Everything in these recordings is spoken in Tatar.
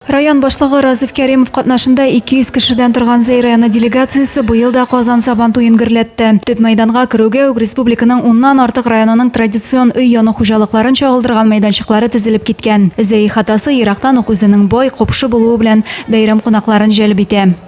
Район башлыгы Разиф Кәримов катнашында 200 кешедән торган Зәй районы делегациясе быел да Казан Сабан туен гөрләтте. Төп мәйданга керүгә үк республиканың уннан артык районының традицион өй яну хуҗалыкларын чагылдырган мәйданчыклары тезелеп киткән. Зәй ихатасы ерактан ук үзенең бай, купшы булуы белән бәйрәм кунакларын җәлеп итә.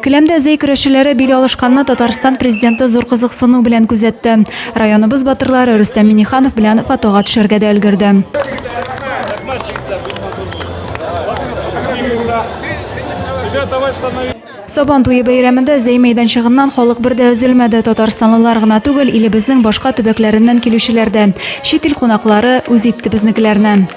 Келәмдә зәй көрәшчеләре бил алышканны Татарстан президенты зур кызыксыну белән күзәтте. Районыбыз батырлары Рөстәм Миниханов белән фотога төшәргә дә өлгерде. Сабан туе бәйрәмендә зәй мәйданчыгыннан халык бер дә өзелмәде. Татарстанлылар гына түгел, илебезнең башка төбәкләреннән килүчеләр дә. Чит ил кунаклары үз итте безнекеләрне.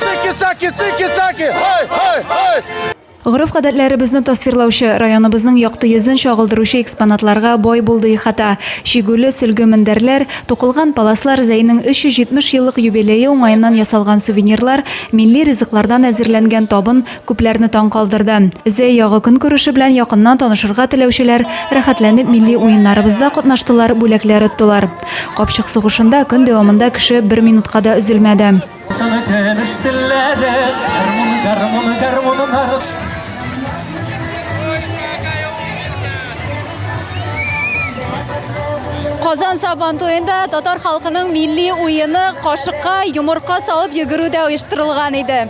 Цики-цаки, цики-цаки, ай, ай, ай! Гореф-гадәтләребезне тасвирлаучы, районыбызның якты йөзен чагылдыручы экспонатларга бай булды ихата. Чигүле, сөлге мендәрләр, тукылган паласлар, Зәйнең 370 еллык юбилее уңаеннан ясалган сувенирлар, милли ризыклардан әзерләнгән табын күпләрне таң калдырды. Зәй ягы көнкүреше белән якыннан танышырга теләүчеләр рәхәтләнеп милли уеннарыбызда катнаштылар, бүләкләр оттылар. Капчык сугышында көн дәвамында кеше бер минутка да өзелмәде. Казан сабан туенда татар халкының милли уены кашыкка йомырка салып йөгерү дә оештырылган иде.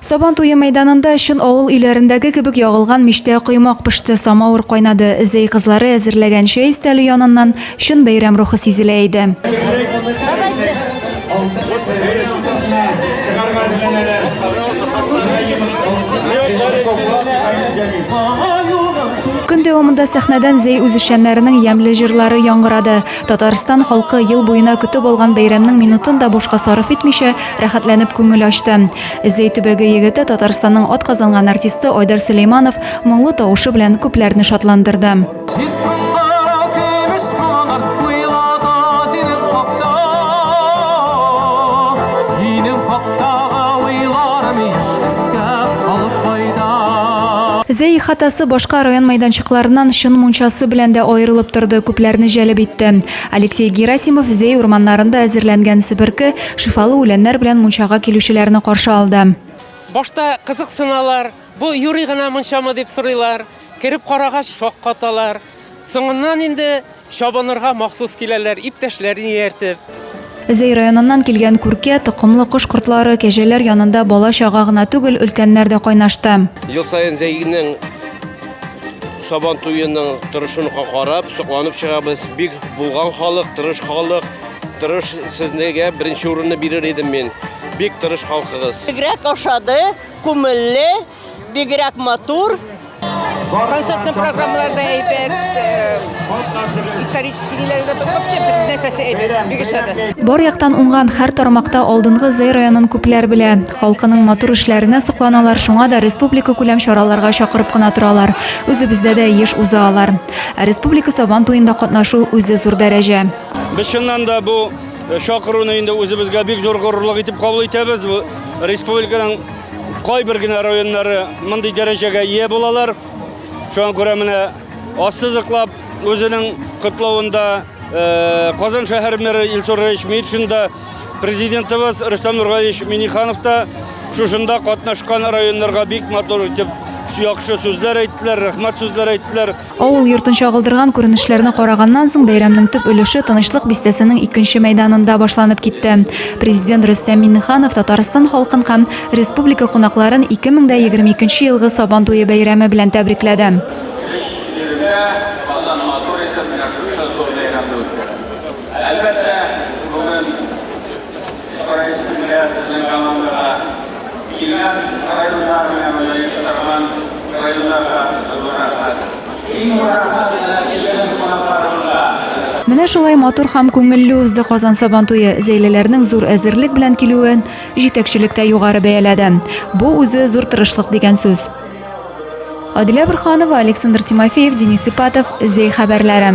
Сабан туе мәйданында чын авыл өйләрендәге кебек ягылган мичтә коймак пеште, самавыр кайнады. Зәй кызлары әзерләгән чәй өстәле яныннан чын бәйрәм рухы сизелә иде. Көн дәвамында сәхнәдән Зәй үзешчәннәренең ямьле җырлары яңгырады. Татарстан халкы ел буена көтеп алган бәйрәмнең минутын да бушка сарыф итмичә, рәхәтләнеп күңел ачты. Зәй төбәге егете, Татарстанның атказанган артисты Айдар Сөләйманов моңлы тавышы белән күпләрне шатландырды. Зәй ихатасы башка район мәйданчыкларыннан чын мунчасы белән дә аерылып торды, күпләрне җәлеп итте. Алексей Герасимов Зәй урманнарында әзерләнгән себерке Шифалы үләннәр белән мунчага килүчеләрне каршы алды. Башта кызыксыналар, бу юри гына мунчамы дип сорыйлар, кереп карагач шаккаталар. Соңыннан инде чабынырга махсус киләләр, иптәшләрен ияртеп. Зәй районыннан килгән күркә, токымлы кош-кортлары, кәҗәләр янында бала-чага гына түгел, өлкәннәр дә кайнашты. Ел саен Зәйнең Сабан туеның торышын карап, сокланып чыгабыз. Бик булган халык, тырыш халык. Тырыш сезнегә беренче урынны бирер идем мин. Бик тырыш халкыгыз. Бигрәк ошады, күмелле, бигрәк матур. Концертный программаларда әйбәт, э, исторический ниләрдә вообще бөтен нәрсәсе әйбәт, бик ошады. Бар яктан уңган һәр тармакта алдынгы Зәй районын күпләр белә. Халкының матур эшләренә сокланалар, шуңа да республика күләм чараларга чакырып кына торалар. Үзебездә дә еш уза алар. Ә республика Сабан туенда катнашу үзе зур дәрәҗә. Без чыннан да бу э, чакыруны инде үзебезгә бик зур горурлык итеп кабул итәбез. Республиканың кайбер генә районнары мондый дәрәҗәгә ие булалар. Шуңа күрә менә ассызыклап үзенең котлавында э, Казан шәһәр мэры Илсур Раевич Митшин да, президентыбыз Рөстәм Нургалиевич Миниханов та шушында катнашкан районнарга бик матур итеп яхшы сүзләр әйттеләр, рәхмәт сүзләр әйттеләр. Авыл йортын чагылдырган күренешләрне караганнан соң, бәйрәмнең төп өлеше Тынычлык бистәсенең икенче мәйданында башланып китте. Президент Рөстәм Миңнеханов Татарстан халкын һәм республика кунакларын 2022 елгы Сабан туе бәйрәме белән тәбрикләде. Исраилсез генә сезнең командага килгән районнар белән бергә оештырылган районнарга зур рәхмәт. Иң зур рәхмәт әнә килгән кунакларыбызга. Менә шулай матур һәм күңелле узды Казан Сабантуе. Зәйлеләрнең зур әзерлек белән килүен җитәкчелек тә югары бәяләде. Бу үзе зур тырышлык дигән сүз. Адилә Борһанова, Александр Тимофеев, Денис Ипатов, Зәй хәбәрләре.